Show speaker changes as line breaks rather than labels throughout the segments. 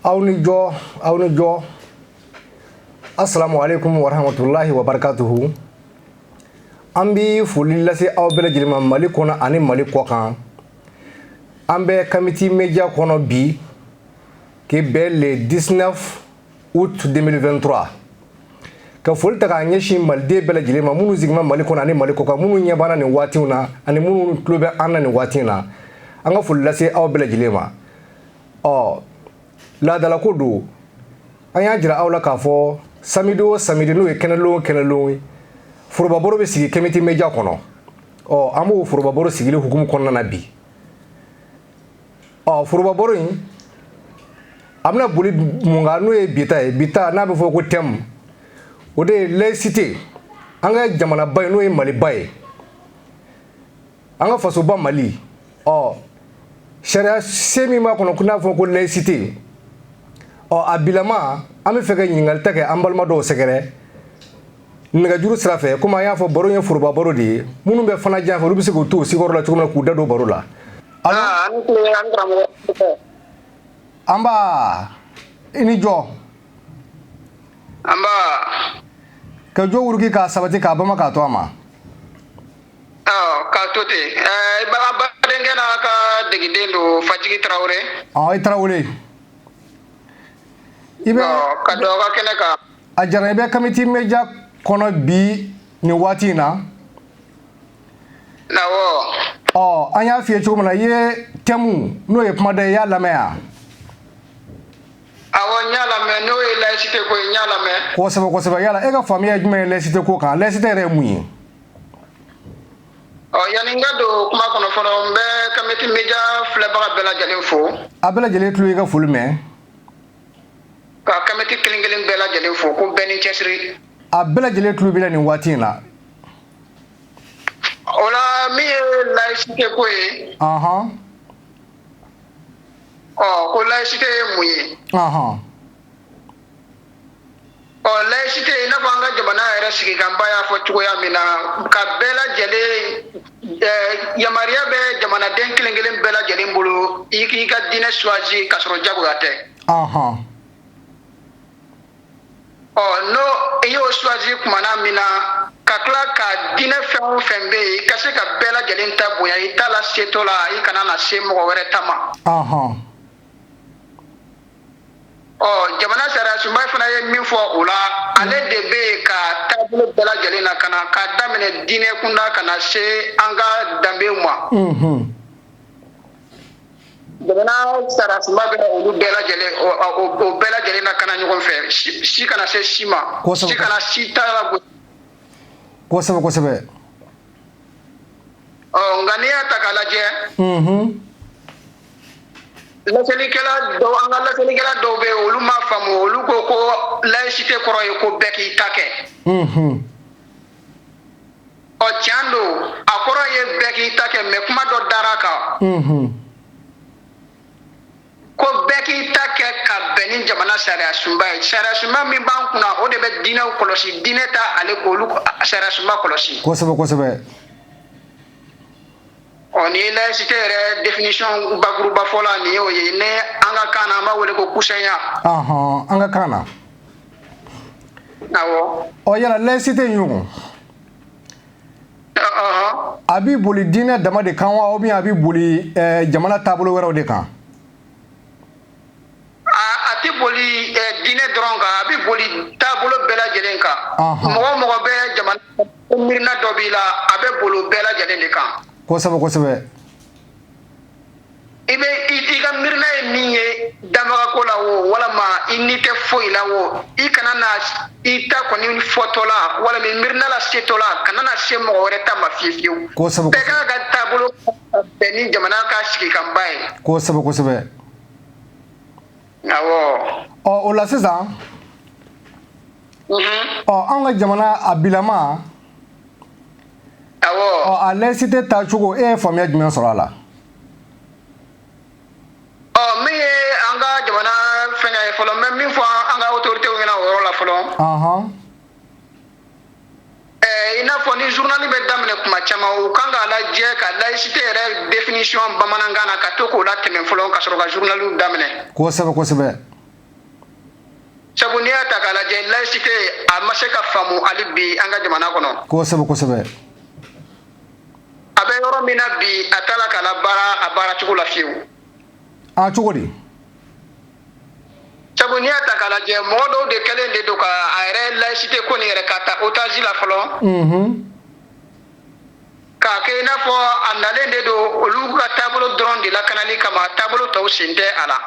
aw ni jo asalamu aleykum warahmatulahi wabarakatuhu an bɛ foli lase aw bɛɛ lajɛlen ma mali kɔnɔ ani mali kɔkan an bɛ kamiti media kɔnɔ bi ke bɛ le 19 août 2023 ka foli ta k'a ɲɛsin maliden bɛɛ lajɛlen ma minnu sigima mali kɔnɔ ani mali kɔkan minnu ɲɛ b'an na nin waati in na ani minnu tulo bɛ an na nin waati na an ka foli lase aw bɛɛ lajɛlen ma ɔ laadalako don an y'a jira aw la k'a fɔ samidi o samidi n'o ye kɛnɛlon kɛnɛlon ye forobabaro bɛ sigi kamiti media kɔnɔ ɔ an b'o forobabaro sigili hukumu kɔnɔna na bi ɔ forobabaro in a bɛna boli mun kan n'o ye bi ta ye bi ta n'a bɛ fɔ ko tɛmu o de ye laïcité an ka jamanaba ye n'o ye maliba ye an ka fasoba mali ɔ sariyasen min b'a kɔnɔ ko n'a fɔ ko laïcité ɔ a bilama an b'a fɛ ka ɲininkali ta kɛ an balima dɔw sɛgɛrɛ nɛgɛjuru sira fɛ komi an y'a fɔ baro ye foroba baro de ye minnu bɛ fana jan fɛ olu bɛ se k'u to sigiyɔrɔ la cogo min na k'u da don baro la ah, anba i ni jo ka jo wuruki k'a sabati k'a bama k'a to a
ma k'a to ten eh, badenkɛ n'a ka degiden don fajigi tarawele i tarawele
i bɛ ka dɔ ka kɛnɛ
kan a jara i bɛ
kamiti media kɔnɔ bi nin waati in
na ɔ an y'a f'i ye cogo min na
i ye tɛmu n'o ye kuma da i y'a lamɛn yan awɔ
n y'a lamɛn n'o ye layisite ko n y'a lamɛn kosɛbɛ kosɛbɛ yala e ka faamuya
ye jumɛn ye layisite ko kan layisite yɛrɛ ye mun ye
ɔ yanni n ka don kuma kɔnɔ fɔlɔ n bɛ kamiti media filɛbaga bɛɛ lajɛlen fo a bɛɛ lajɛlen tulo y'i ka
foli mɛn
Ka kamiti kelen kelen bɛɛ lajɛlen fo ko bɛɛ ni cɛsiri a bɛɛ lajɛlen tulo
b'i la nin waati in la
o la min ye layisite ko ye ko layisite ye mun ye ɔ layisite i n'a fɔ an ka jamana yɛrɛ sigikanba y'a fɔ cogoya min na ka bɛɛ lajɛlen yamaruya bɛ jamanaden kelen kelen bɛɛ lajɛlen bolo i k'i ka diinɛ suwazi k'a sɔrɔ jagoya tɛ ɔ n'o i y'o suwazi kumana min na ka tila ka diinɛ fɛn o fɛn bɛ yen i ka se ka bɛɛ lajɛlen ta bonya i ta lasetɔ la i kana na se mɔgɔ wɛrɛ ta ma ɔ jamana sariyasunba fana ye min fɔ o la ale de bɛ yen ka taabolo bɛɛ lajɛlen lakana ka daminɛ diinɛ kunda ka na se an ka danbew ma jamana sariyasunba bɛ olu bɛɛ lajɛlen o bɛɛ lajɛlen lakana ɲɔgɔn fɛ si kana se si ma si kana si ta
la kosɛbɛ kosɛbɛ
ɔ nka n'i y'a ta k'a lajɛ laselikɛla dɔw an ka laselikɛla dɔw bɛ yen olu m'a faamu olu ko ko laïcité kɔrɔ ye ko bɛɛ k'i ta kɛ ɔ tiɲɛ don a kɔrɔ ye bɛɛ k'i ta kɛ mais kuma dɔ dara a kan ko bɛɛ k'i ta kɛ ka bɛn ni jamana sariya sunba ye sariya sunba min b'an kunna o de bɛ diinɛw kɔlɔsi diinɛ ta ale k'olu sariya sunba kɔlɔsi kosɛbɛ kosɛbɛ ɔ ni laïcité yɛrɛ définition bakuruba fɔ la nin y'o ye ne an ka kan na an b'a wele ko kusɛnya ɔhɔn an ka
kan na
awɔ ɔ yala laïcité
in ɲɔgɔn a b'i boli diinɛ dama de kan wa ou bien a b'i boli eh, jamana taabolo wɛrɛw de kan
a tɛ boli diinɛ dɔrɔn kan a bɛ boli taabolo bɛɛ lajɛlen kan mɔgɔ o mɔgɔ bɛ jamana miirina dɔ b'i la a bɛ boli bɛɛ lajɛlen de kan kosɛbɛ kosɛbɛ i bɛ i ka miirina ye min ye dabagako la o walima i ni tɛ foyi la o i kana na i ta kɔni fɔtɔ la walima i miirina lasetɔ la kana na se mɔgɔ wɛrɛ ta ma fiyewu ka
taabolo
Bɛn ni jamana ka sigikanba ye kosɛbɛ kosɛbɛ ɔ o la sisan
ɔ an ka jamana a bilama a laïcité taacogo e ye faamuya jumɛn sɔrɔ a
la ɔ min ye an ka jamana fɛn fɔlɔ mɛ min fɔ an ka to denw o yɔrɔ la fɔlɔ i n'a fɔ ni journal bɛ daminɛ kuma caman u kan k'a lajɛ ka laïcité yɛrɛ définition bamanankan na ka to k'o latɛmɛ fɔlɔ ka sɔrɔ
ka
journal daminɛ kosɛbɛ kosɛbɛ sabu n'i y'a ta k'a lajɛ laïcité a ma se ka faamu hali bi an ka jamana kɔnɔ kosɛbɛ kosɛbɛ a bɛ yɔrɔ min na bi a t'a la ka labaara a baaracogo la fiyewu a cogo
di
sabu n'i y'a ta k'a lajɛ mɔgɔ dɔw de kɛlen de don k' a yɛrɛ layisite ko nin yɛrɛ k'a ta otage la fɔlɔ k'a kɛ i n'a fɔ a nalen de don olu ka taabolo dɔrɔn de lakanali kama taabolo tɔw sen tɛ a la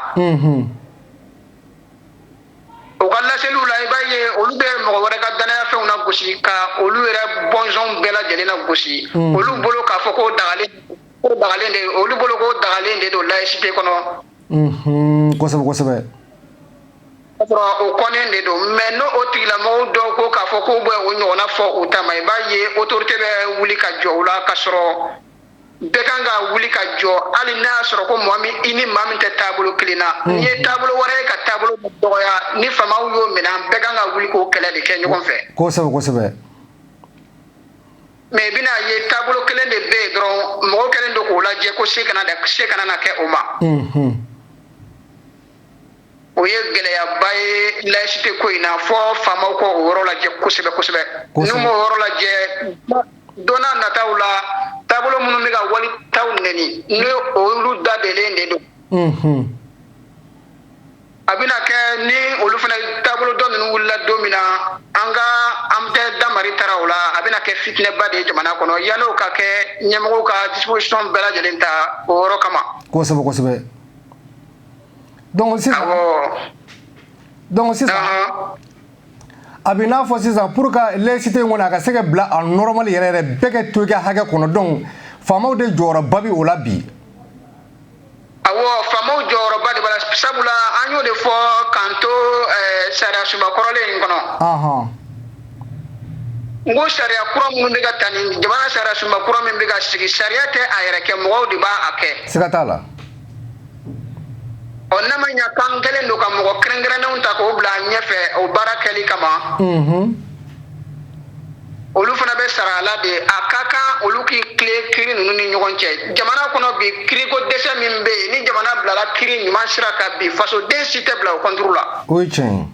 u ka laseliw la i b'a ye olu bɛ mɔgɔ wɛrɛ ka dannayafɛnw nagosi ka olu yɛrɛ bɔnsɔn bɛɛ lajɛlen nagosi olu bolo k'a fɔ ko dagalen de olu bolo ko dagalen de don layisite kɔnɔ kosɛbɛ kosɛbɛ o kɔnnen de don mɛ n' o tigilamɔgɔ dɔw ko k'a fɔ ko bɛ o ɲɔgɔnna fɔ u ta ma i b'a ye autorité bɛ wuli ka jɔ u la ka sɔrɔ bɛɛ kan ka wuli ka jɔ hali n'a y'a sɔrɔ ko mɔgɔ min i ni maa min tɛ taabolo kelen na n'i ye taabolo wɛrɛ ye ka taabolo dɔgɔya ni faamaw y'o minɛ bɛɛ kan ka wuli k'o kɛlɛ de kɛ ɲɔgɔn fɛ kosɛbɛ kosɛbɛ mɛ i bɛn'a ye taabolo kelen de bɛ yen dɔrɔn mɔgɔ kɛlen don k'o lajɛ ko se kana se kana na kɛ o ma o ye gɛlɛyaba ye layisite ko in na fɔ faamaw k'o yɔrɔ lajɛ kosɛbɛ kosɛbɛ n'u m'o yɔrɔ lajɛ don na nataw la taabolo minnu bɛ ka wali taw nɛni n' olu da deelen de don a bɛna kɛ ni olu fana taabolo dɔ ninnu wulila don min na an ka an tɛ dabari taara o la a bɛna kɛ fitinɛba de ye jamana kɔnɔ yal'o ka kɛ ɲɛmɔgɔw ka disposition bɛɛ lajɛlen ta o yɔrɔ kama. kosɛbɛ kosɛbɛ
donc sisan donc sisan a bɛ n'a fɔ sisan pour ka laïcité in kɔni a ka se ka bila a normal yɛrɛ yɛrɛ bɛɛ ka to i ka hakɛ kɔnɔ donc faamaw de jɔyɔrɔba bɛ o la bi.
Awɔ faamaw jɔyɔrɔba de b'a la sabula an y'o de fɔ k'an to sariya sunba kɔrɔlen in kɔnɔ n ko sariya kura minnu bɛ ka ta ni jamana sariya sunba kura min bɛ ka sigi sariya tɛ a yɛrɛ kɛ mɔgɔw de b'a kɛ siga t'a la ɔ ne ma ɲɛ kan kelen don ka mɔgɔ kɛrɛnkɛrɛnnenw ta k'o bila ɲɛfɛ o baara kɛli kama olu fana bɛ sara a la de a ka kan olu k'i tilen kiri ninnu ni ɲɔgɔn cɛ jamana kɔnɔ bi kiriko dɛsɛ min bɛ yen ni jamana bilala kiri ɲuman sira kan bi fasoden si tɛ bila o kɔnturu la o ye tiɲɛ ye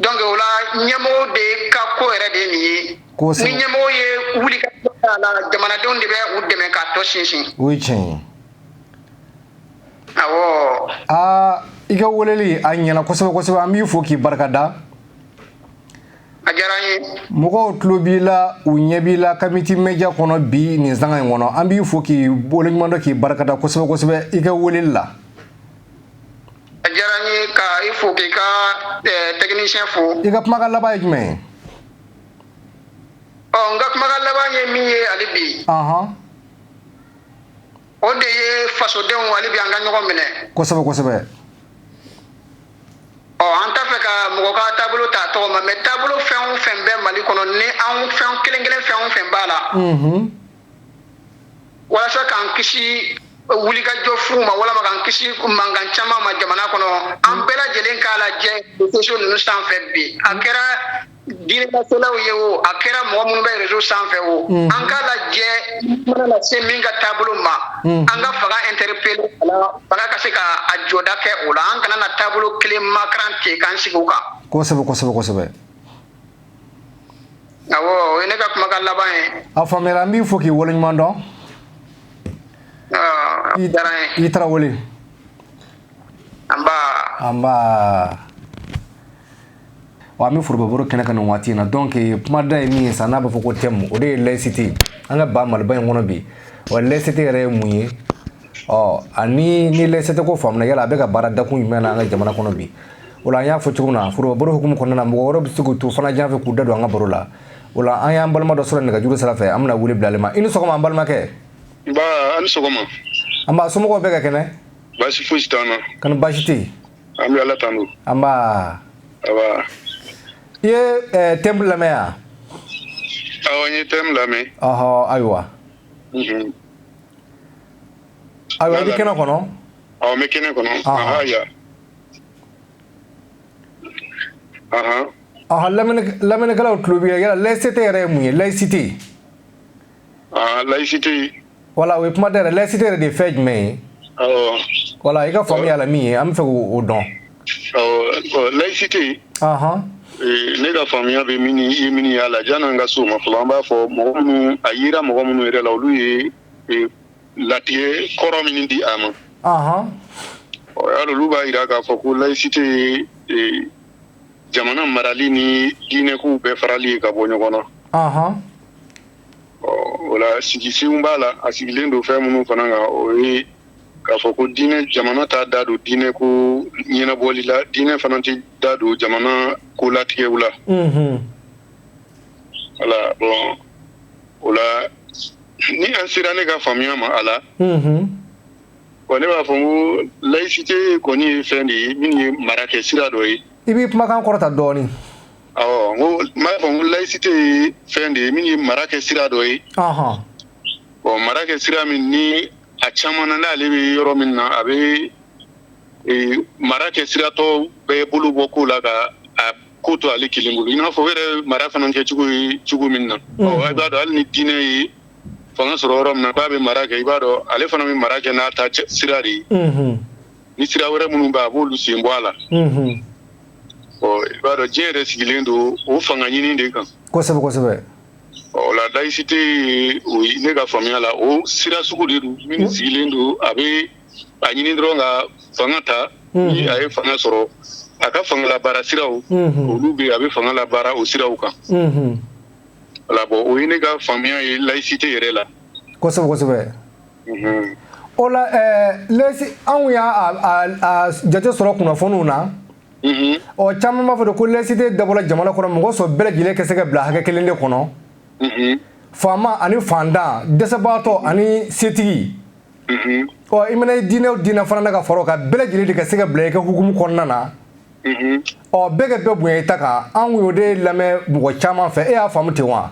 donc o la ɲɛmɔgɔ de ka ko yɛrɛ de ye nin ye ni ɲɛmɔgɔ ye wuli k'a la jamanadenw de bɛ u dɛmɛ k'a tɔ sinsin o ye tiɲɛ ye awɔ aa i
ka weleli a ɲɛna kosɛbɛ kosɛbɛ an b'i fo k'i barikada a
diyara n ye mɔgɔw tulo b'i
la u ɲɛ b'i la comité média kɔnɔ bi nin sanga in kɔnɔ an b'i fo k'i waleɲumandɔn k'i barikada kosɛbɛ kosɛbɛ i ka weleli la a
diyara n ye ka i fo k'i ka eh, tɛkinisiyɛn fo i ka kumakan laban ye
jumɛn
ye ɔ n ka kumakan laban ye min ye hali bi ɔhɔn o de ye fasodenw hali bi an ka ɲɔgɔn minɛ kosɛbɛ kosɛbɛ ɔ an t'a fɛ ka mɔgɔ ka taabolo ta tɔgɔ ma mɛ taabolo fɛn o fɛn bɛ mali kɔnɔ ni an fɛn kelen kelen fɛn o fɛn b'a la walasa k'an kisi wulikajɔ fuw ma walama k'an kisi mankan caman ma jamana kɔnɔ an bɛɛ lajɛlen k'a lajɛ koso ninnu sanfɛ bi a kɛra Diinɛ laselaw ye o a kɛra mɔgɔ minnu bɛ réseau sanfɛ o an ka lajɛ mana na se min ka taabolo ma an ka fanga interpeller wala fanga ka se ka a jɔda kɛ o la an kana na taabolo kelen makaran ten k'an sigi o kan kosɛbɛ kosɛbɛ
kosɛbɛ
o ne ka kumakan laban ye a faamuya an b'i fo
k'i wale ɲuman dɔn i Tarawele anba wa an bɛ forobabaro kɛnɛ kan nin waati in na donc kumada ye min ye sa n'a b'a fɔ ko thème o de ye laïcité an ka ba maliba in kɔnɔ bi wa laïcité yɛrɛ ye mun ye ɔ ani ni laïcité ko faamuna yala a bɛ ka baara dakun jumɛn na an ka jamana kɔnɔ bi o la an y'a fɔ cogo min na forobabaro hukumu kɔnɔna na mɔgɔ wɛrɛw bɛ se k'u to fan jan fɛ k'u da don an ka baro la o la an y'an balima dɔ sɔrɔ nɛgɛjuru sira fɛ an bɛna wele bila ale ma i ni sɔgɔma an balimakɛ nba an ni
sɔgɔma anba somɔgɔw
bɛɛ ka kɛnɛ baasi fosi t'an
na kani baasi tɛ yen
An bɛ Ala
tanu.
Anba! Awa, I ye thème lamɛn
wa? Awɔ, n ye thème lamɛn. Ɔhɔ! Ayiwa.
Unhun! Ayiwa, i bɛ kɛnɛ kɔnɔ? Awɔ, n bɛ kɛnɛ
kɔnɔ. Ɔhɔ!
Aya! Anhan! Ɔhɔ! Lamɛnni, lamɛnnikɛlaw tulo b'i la. Yala laïcité yɛrɛ ye mun ye? Laïcité?
laïcité voilà o ye kuma
tɛ laïcité yɛrɛ de ye fɛn jumɛn ye wala i ka faamuya a la min ye an b'a fɛ k'o
dɔn laïcité ne ka faamuya bɛ min ye min y'a la janni n ka se o ma fɔlɔ an b'a fɔ mɔgɔ minnu a yira mɔgɔ minnu yɛrɛ la olu ye latigɛ kɔrɔ min di a ma olu b'a yira k'a fɔ ko laïcité ye jamana marali ni diinɛko bɛɛ farali ye ka bɔ ɲɔgɔn na o la sigisenw b'a la a sigilen don fɛn minnu fana kan o ye k'a fɔ ko diinɛ jamana t'a da don diinɛ ko ɲɛnabɔli la diinɛ fana tɛ da don jamana ko latigɛw la voilà bon o la ni an sera ne ka faamuya ma a la bon ne b'a fɔ ko laïcité kɔni ye fɛn de ye min ye mara kɛ sira dɔ ye i b'i kumakan kɔrɔta
dɔɔnin
N b'a fɔ ko laïcité ye fɛn de ye min ye mara kɛ sira dɔ ye ɔ mara kɛ sira min ni a caman na n'ale bɛ yɔrɔ min na a bɛ mara kɛ sira tɔ bɛɛ bolo bɔ ko la ka a ko to ale kelen bolo i n'a fɔ o yɛrɛ mara fana kɛ cogo ye cogo min na i b'a dɔn hali ni diinɛ ye fanga sɔrɔ yɔrɔ min na k'a bɛ mara kɛ i b'a dɔn ale fana bɛ mara kɛ n'a ta sira de ye ni sira wɛrɛ minnu bɛ a b'olu sen bɔ a la ɔ i b'a dɔn diɲɛ yɛrɛ sigilen don o fanga ɲini de kan kosɛbɛ layisite ye ne ka faamuya la o sira sugu de don min sigilen don a bɛ a ɲini dɔrɔn ka fanga ta ni a ye fanga sɔrɔ a ka fanga labaara siraw olu bɛ a bɛ fanga labaara o siraw kan wala bɔn o ye ne ka faamuya ye layisite yɛrɛ la
o la lesi anw y'a jate sɔrɔ kunnafoniw na ɔ caman b'a fɔ don ko layisite dabɔla jamana kɔnɔ mɔgɔ sɔrɔ bɛɛ lajɛlen ka se ka bila hakɛ kelen de kɔnɔ faama ani faantan dɛsɛbaatɔ ani setigi ɔ i mana i diinɛ o diinɛ fana na ka fara a kan bɛɛ lajɛlen de ka se ka bila i ka hukumu kɔnɔna na ɔ bɛɛ ka bɛɛ bonya i ta kan anw y'o de lamɛn mɔgɔ caman fɛ e y'a faamumu ten wa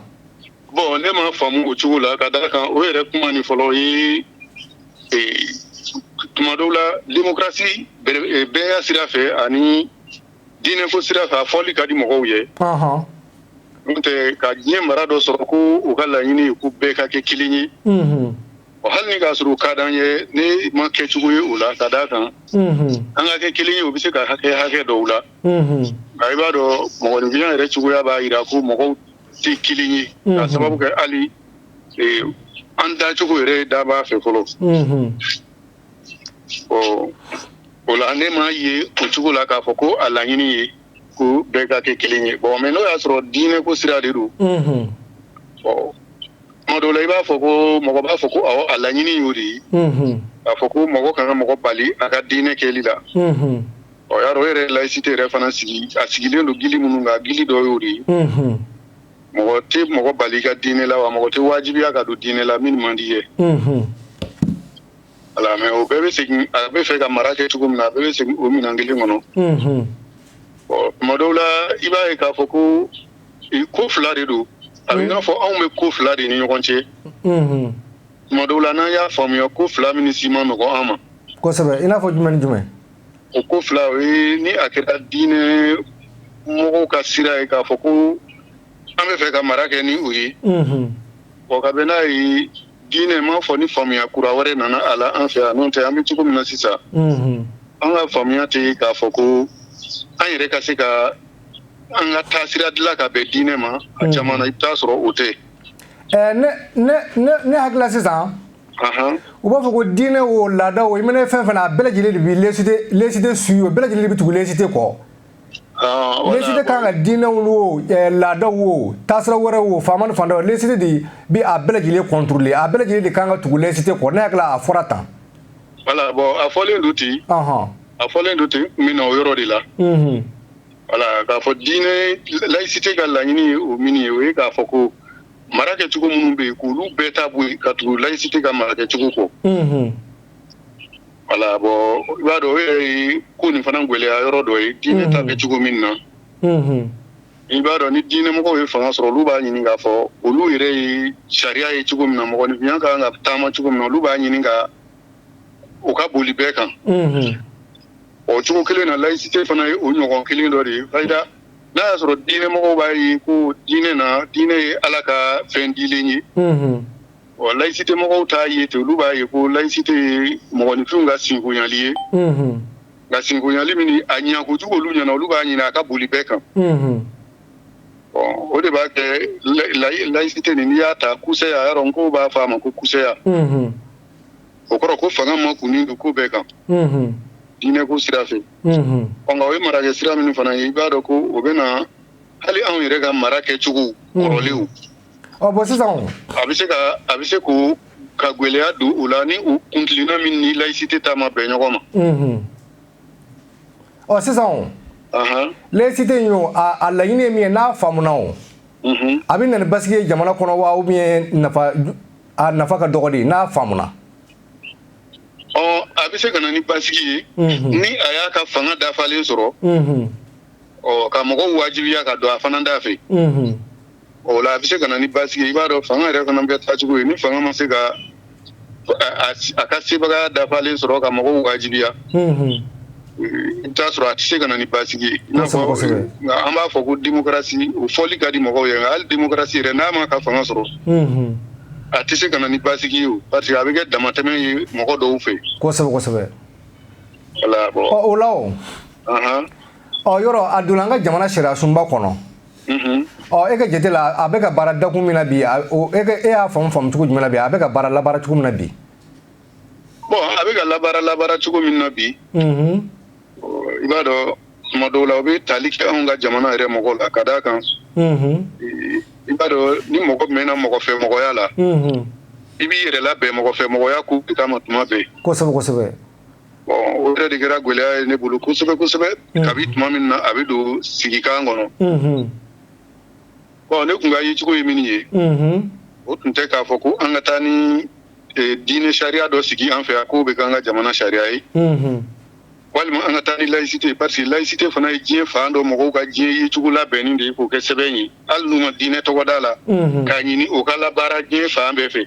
bɔn ne
m'a faamu o cogo la ka d'a kan o yɛrɛ kuma nin fɔlɔ ye tuma dɔw la demokarasi bɛɛya sira fɛ ani diinɛ ko sira fɛ a fɔli ka di mɔgɔw ye n'o tɛ ka diɲɛ mara dɔ sɔrɔ ko u ka laɲini ye ko bɛɛ ka kɛ kelen ye o hali ni k'a sɔrɔ o ka d'an ye ne m'a kɛcogo ye o la ka da a kan an ka kɛ kelen ye o bɛ se ka kɛ hakɛ dɔw la nka i b'a dɔn mɔgɔninfinya yɛrɛ cogoya b'a jira ko mɔgɔw tɛ kelen ye k'a sababu kɛ hali an dacogo yɛrɛ dabaa fɛ fɔlɔ ɔ o la ne m'a ye o cogo la k'a fɔ ko a laɲini ye ko bɛɛ ka kɛ kelen ye bɔn mɛ n'o y'a sɔrɔ diinɛ ko sira de don ɔ tuma dɔw la i b'a fɔ ko mɔgɔ b'a fɔ ko a laɲini y'o de ye k'a fɔ ko mɔgɔ kana mɔgɔ bali a ka diinɛ kɛli la Ɔ y'a dɔn o yɛrɛ laïcité yɛrɛ fana sigi a sigilen don gili minnu kan gili dɔ y'o de ye unhun mɔgɔ te mɔgɔ bali i ka diinɛ la wa mɔgɔ te wajibiya ka don diinɛ la min man di i ye unhun voilà mais o bɛɛ be segin a be fɛ ka mara kɛ cogo min na a bɛɛ be segin o minan kelen kɔnɔ unhun ɔ tuma dɔw la i b'a ye k'a fɔ ko ko 2 de don a be i n'a fɔ anw be ko 2 de ni ɲɔgɔn cɛ unhun tuma dɔw la n'an y'a faamuya ko 2 minnu si ma nɔgɔn an ma kosɛbɛ i n'a fɔ
jumɛn ni jumɛn o ko
fila o ye ni a kɛra diinɛ mɔgɔw ka sira ye k'a fɔ ko an bɛ fɛ ka mara kɛ ni o ye ɔ ka bɛn n'a ye diinɛ ma fo ni faamuya kura wɛrɛ nana a la an fɛ yan n'o tɛ an bɛ cogo min na sisan an ka faamuya tɛ yen k'a fɔ ko an yɛrɛ ka se ka an ka taasira dilan ka bɛn diinɛ ma a caman na i bɛ t'a sɔrɔ o tɛ
ne hakili sisan u b'a fɔ ko diinɛ o laada o i mana fɛn fɛn na a bɛɛ lajɛlen de bɛ laïcité suivre o bɛɛ lajɛlen de bɛ tugu laïcité kɔ laïcité kan ka diinɛw o laadaw o taasira wɛrɛw o faama ni fantan laïcité de bɛ a bɛɛ lajɛlen contrôler a bɛɛ lajɛlen de kan ka tugu laïcité kɔ ne hakili a fɔra tan voilà
bon a fɔlen don ten a fɔlen don ten n bɛ o yɔrɔ de la voilà k'a fɔ diinɛ laïcité ka laɲini o min ye o ye k'a fɔ ko mara kɛcogo minnu bɛ yen k'olu bɛɛ ta bɔ yen ka tugu laïcité ka mara kɛcogo kɔ, unhun, voilà bon i b'a dɔn o yɛrɛ ye ko nin fana gɛlɛya yɔrɔ dɔ ye diinɛ ta bɛ cogo min na, unhun, i b'a dɔn ni diinɛmɔgɔw ye fanga sɔrɔ olu b'a ɲini k'a fɔ olu yɛrɛ ye sariya ye cogo min na mɔgɔninfinya ka kan ka taama cogo min na olu b'a ɲini ka o ka boli bɛɛ kan, unhun, o cogo kelen na laïcité fana ye o ɲɔgɔn kelen dɔ de ye n'a y'a sɔrɔ diinɛmɔgɔw b'a ye ko diinɛ na diinɛ ye ala ka fɛn dilen ye ɔ laïcité mɔgɔw t'a ye ten olu b'a ye ko laïcité ye mɔgɔninfinw ka sinkonyali ye nka sinkonyali min a ɲa kojugu olu ɲɛna olu b'a ɲini a ka boli bɛɛ kan ɔ o de b'a kɛ laïcité nin n'i y'a ta kusɛya yɔrɔ n ko b'a fɔ a ma ko kusɛya o kɔrɔ ko fanga makunnin don ko bɛɛ kan diinɛ ko sira fɛ ye marakɛ sira min fana ye i b'a dɔn ko o bɛ na hali anw yɛrɛ ka mara kɛcogo kɔrɔlenw
bon sisan a bɛ se a
bɛ se k'o ka gɛlɛya don u la ni u kuntilenna min ni laïcité ta ma bɛn ɲɔgɔn ma ɔ
sisan laïcité in a laɲini ye min ye n'a faamuna o a bɛ na ni basigi ye jamana kɔnɔ wa ou bien a nafa ka dɔgɔ de n'a faamuna
a bɛ se ka na ni basigi ye ni a y'a ka fanga dafalen sɔrɔ ka mɔgɔw wajibiya ka don a fana da fɛ o la a bɛ se ka na ni basigi ye i b'a dɔn fanga yɛrɛ fana bɛ taa cogo ye ni fanga ma se ka a ka sebagaya dafalen sɔrɔ ka mɔgɔw wajibiya I bɛ t'a sɔrɔ a tɛ se ka na ni basigi ye i n'a fɔ an b'a fɔ ko démocratie o fɔli ka di mɔgɔw ye nka hali démocratie yɛrɛ n'a ma ka fanga sɔrɔ a tɛ se ka na ni basigi ye o parce que a bɛ kɛ damatɛmɛ ye mɔgɔ dɔw fɛ kosɛbɛ o
la o yɔrɔ a donna an ka jamana sariya sunba kɔnɔ ɔ e ka jate la a bɛ ka baara dakun min na bi e y'a faamu faamucogo jumɛn bi a bɛ ka baara labaara cogo min na bi
Bon a bɛ ka labaara labaara cogo min na bi i b'a dɔn tuma dɔw la o bɛ tali kɛ anw ka jamana yɛrɛ mɔgɔw la ka d'a kan i b'a dɔn ni mɔgɔ mɛnna mɔgɔ fɛ mɔgɔya la i b'i yɛrɛ labɛn mɔgɔ fɛ mɔgɔya ko kama tuma bɛɛ
kosɛbɛ
o yɛrɛ de kɛra gɛlɛya ye ne bolo kosɛbɛ kosɛbɛ kabi tuma min na a bɛ don sigikan kɔnɔ Bon ne tun ka yecogo ye min ye o tun tɛ k'a fɔ ko an ka taa ni diinɛ sariya dɔ sigi an fɛ yan k'o bɛ kɛ an ka jamana sariya ye walima an ka taa ni layisite parce que layisite fana ye diɲɛ fan dɔ mɔgɔw ka diɲɛ yecogo labɛnnen de ye k'o kɛ sɛbɛn ye hali n'u ma diinɛ tɔgɔ d'a la k'a ɲini o ka labaara diɲɛ fan bɛɛ fɛ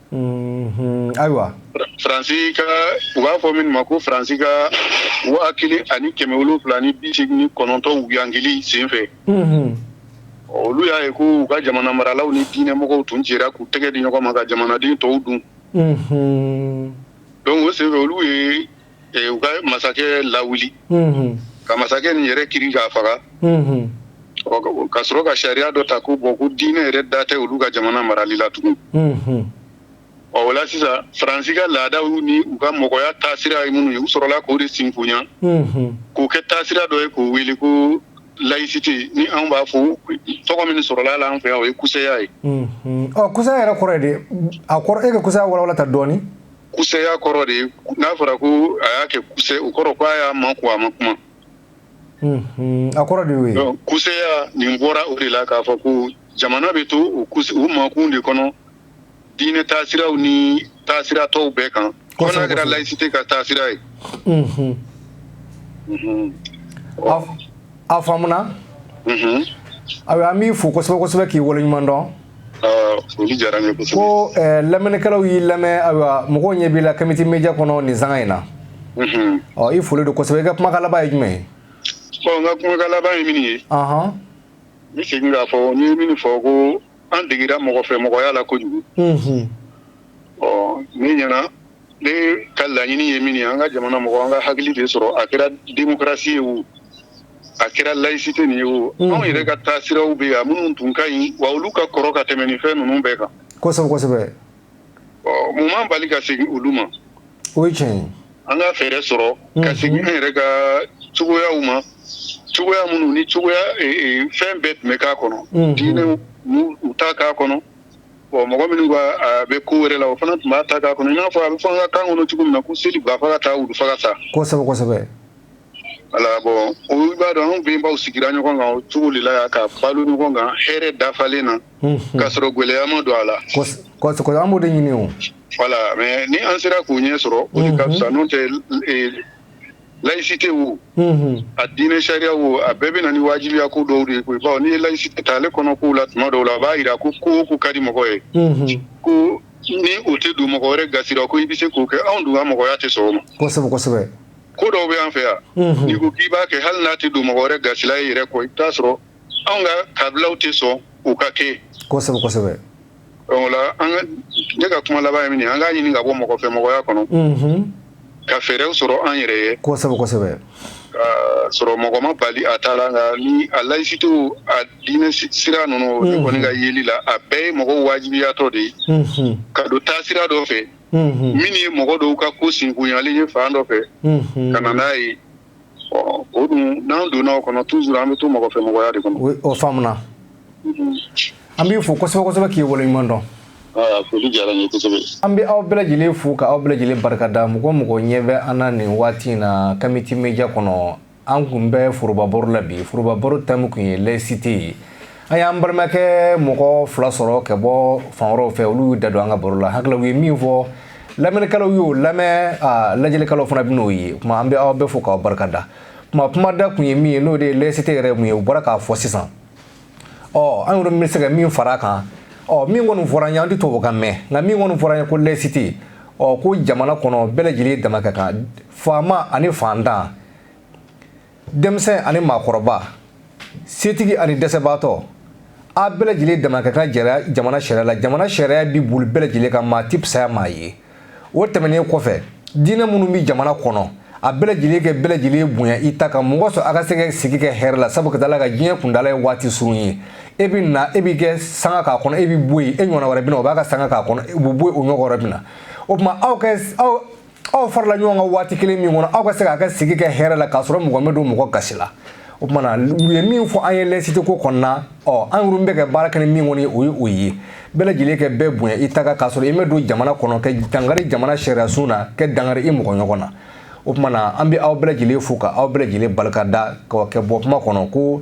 Ayiwa
faransi ka u b'a fɔ min ma ko faransi ka waa kelen ani kɛmɛ wolonwula ni bi seegin ni kɔnɔntɔn wuyangili sen fɛ olu y'a ye ko u ka jamana maralaw ni diinɛ mɔgɔw tun jɛra k'u tɛgɛ di ɲɔgɔn ma ka jamanaden tɔw dun donc o sen fɛ olu ye u ka masakɛ lawuli ka masakɛ nin yɛrɛ kiri k'a faga ka sɔrɔ ka sariya dɔ ta ko bon ko diinɛ yɛrɛ da tɛ olu ka jamana marali la tugun o la sisan faransi ka laadaw ni u ka mɔgɔya taasira ye minnu ye u sɔrɔla k'o de sinfonya k'o kɛ taasira dɔ ye k'o wele ko layisite ni anw b'a fɔ tɔgɔ min sɔrɔla la an fɛ yan o ye kusɛya ye kusɛya yɛrɛ
kɔrɔ de a e ka kusɛya walawala ta dɔɔnin kusɛya
kɔrɔ de n'a fɔra ko a y'a kɛ kusɛ o kɔrɔ ko a y'a makun a ma
kuma a kɔrɔ de ye kusɛya nin
bɔra o de la k'a fɔ ko jamana bɛ to o makun de kɔnɔ diinɛ taasiraw ni taasira tɔw bɛɛ kan fo n'a kɛra layisite ka taasira
ye a faamuna ayiwa an b'i fo kosɛbɛ kosɛbɛ k'i waleɲuman dɔn
ko
lamɛnnikɛlaw y'i lamɛn ayiwa mɔgɔw ɲɛ b'i la kamiti media kɔnɔ nin sanga in na ɔ i foli don kosɛbɛ i ka kumakan laban ye jumɛn ye bon n
ka kumakan laban ye min ye n bɛ segin k'a fɔ n ye min fɔ ko an degera mɔgɔ fɛ mɔgɔya la kojugu ɔ ne ɲɛ na ne ka laɲini ye min ye an ka jamana mɔgɔ an ka hakili de sɔrɔ a kɛra démocratie ye o a kɛra layisite nin ye o anw yɛrɛ ka taasiraw bɛ yan minnu tun ka ɲi wa olu ka kɔrɔ ka tɛmɛ ni fɛn ninnu bɛɛ kan kosɛbɛ kosɛbɛ ɔ mun m'an bali ka segin olu ma o ye
tiɲɛ ye an ka fɛɛrɛ
sɔrɔ ka segin an yɛrɛ ka cogoyaw ma cogoya minnu ni cogoya fɛn bɛɛ tun bɛ k'a kɔnɔ diinɛw u ta k'a kɔnɔ bon mɔgɔ minnu ko a bɛ ko wɛrɛ la o fana tun b'a ta k'a kɔnɔ i n'a fɔ a bɛ fɔ an ka kan kɔnɔ cogo min na ko seli ba faga ta wulu faga ta kosɛbɛ kosɛbɛ
voilà
bon ɔ i b'a dɔn anw bɛnbaw sigira ɲɔgɔn kan o cogo de la yan ka balo ɲɔgɔn kan hɛrɛ dafalen na k'a sɔrɔ gɛlɛya ma don a la kosɛbɛ an b'o de
ɲini o voilà mais
ni an sera k'o ɲɛ sɔrɔ o de ka fisa n'o tɛ layisite wo a diinɛ sariya wo a bɛɛ bɛ na ni wajibiya ko dɔw de ye koyi bawo n'i ye layisite ta ale kɔnɔkow la tuma dɔw la a b'a jira ko ko o ko ka di mɔgɔ ye ko ni o tɛ don mɔgɔ wɛrɛ gasila ko i bɛ se k'o kɛ anw dun ka mɔgɔya tɛ sɔn o ma
kosɛbɛ ko dɔw bɛ
an fɛ yan ni ko k'i b'a kɛ hali n'a tɛ don mɔgɔ wɛrɛ gasila i yɛrɛ kɔ i t'a sɔrɔ anw ka kabilaw tɛ sɔn o ka kɛ ne ka kuma laban ye min ye an k'a ɲini ka bɔ mɔgɔ fɛ mɔgɔya kɔnɔ ka fɛɛrɛw sɔrɔ an yɛrɛ ye kosɛbɛ k'a sɔrɔ mɔgɔ ma bali a ta la nka ni a layisite a diinɛ sira ninnu ne kɔni ka yeli la a bɛɛ ye mɔgɔ wajibiyatɔ de ye ka don taasira dɔ fɛ min ye mɔgɔ dɔw ka ko sinkunyalen ye fan dɔ fɛ ka na n'a ye o dun n'an donna o kɔnɔ tuzuru an bɛ to mɔgɔ fɛ mɔgɔya de kɔnɔ o
faamuna an b'i fo kosɛbɛ kosɛbɛ k'i wale ɲuman dɔn
an bɛ aw bɛɛ
lajɛlen fo ka aw bɛɛ lajɛlen barikada mɔgɔ o mɔgɔ ɲɛ bɛ an na nin waati in na kamiti media kɔnɔ an kun bɛ forobabaro la bi forobabaro tɛmu kun ye lɛsite ye an y'an balimakɛ mɔgɔ fila sɔrɔ ka bɔ fan wɛrɛw fɛ olu y'u da don an ka baro la hakili u ye min fɔ lamɛnnikɛlaw y'o lamɛn lajɛlikɛlaw fana bɛ n'o ye o tuma an bɛ aw bɛɛ fo k'aw barika da kuma kuma da kun ye min ye n'o de ye lɛsite yɛrɛ mun ye u bɔra k'a fɔ sisan ɔ an yɛrɛ bɛ se ka min fara a kan ɔ min kɔni fɔra an ye an tɛ tubabu kan mɛn nka min kɔni fɔra an ye ko lɛsite ɔ ko jamana kɔnɔ bɛɛ lajɛlen dama ka kan faama ani fantan denmisɛn ani maakɔrɔba setigi ani dɛsɛbaatɔ a bɛɛ lajɛlen dama ka kan jamana sariya la jamana sariya bɛ boli bɛɛ lajɛlen kan maa ti fisaya maa ye o tɛmɛnen kɔfɛ diinɛ minnu bɛ jamana kɔnɔ a bɛɛ lajɛlen kɛ bɛɛ lajɛlen bonya i ta kan mɔgɔ sɔrɔ a ka se ka sigi kɛ hɛrɛ la sabu ka taa la ka diɲɛ kundala ye waati surun ye e bɛ na e b'i ka sanga k'a kɔnɔ e bɛ bɔ yen e ɲɔgɔn wɛrɛ bɛ na o b'a ka sanga k'a kɔnɔ o bɛ bɔ yen o ɲɔgɔn wɛrɛ bɛ na o tuma aw ka aw aw farala ɲɔgɔn kan waati kelen min kɔnɔ aw ka se k'a ka sigi kɛ hɛrɛ la k'a sɔrɔ mɔgɔ ma don mɔgɔ gasi la o tuma na u ye min fɔ an ye lɛsite ko kɔnɔna ɔ an yɛrɛ bɛ ka baara kɛ ni min kɔni ye o ye bɛɛ lajɛlen kɛ bɛɛ bonya i ta kan k'a sɔrɔ i ma don jamana kɔnɔ kɛ dangari jamana sariyasun na kɛ dangari i mɔgɔ ɲɔgɔn na o tuma na an bɛ aw bɛɛ lajɛlen fo ka aw bɛɛ lajɛlen barika da ka kɛ bɔ kuma kɔnɔ ko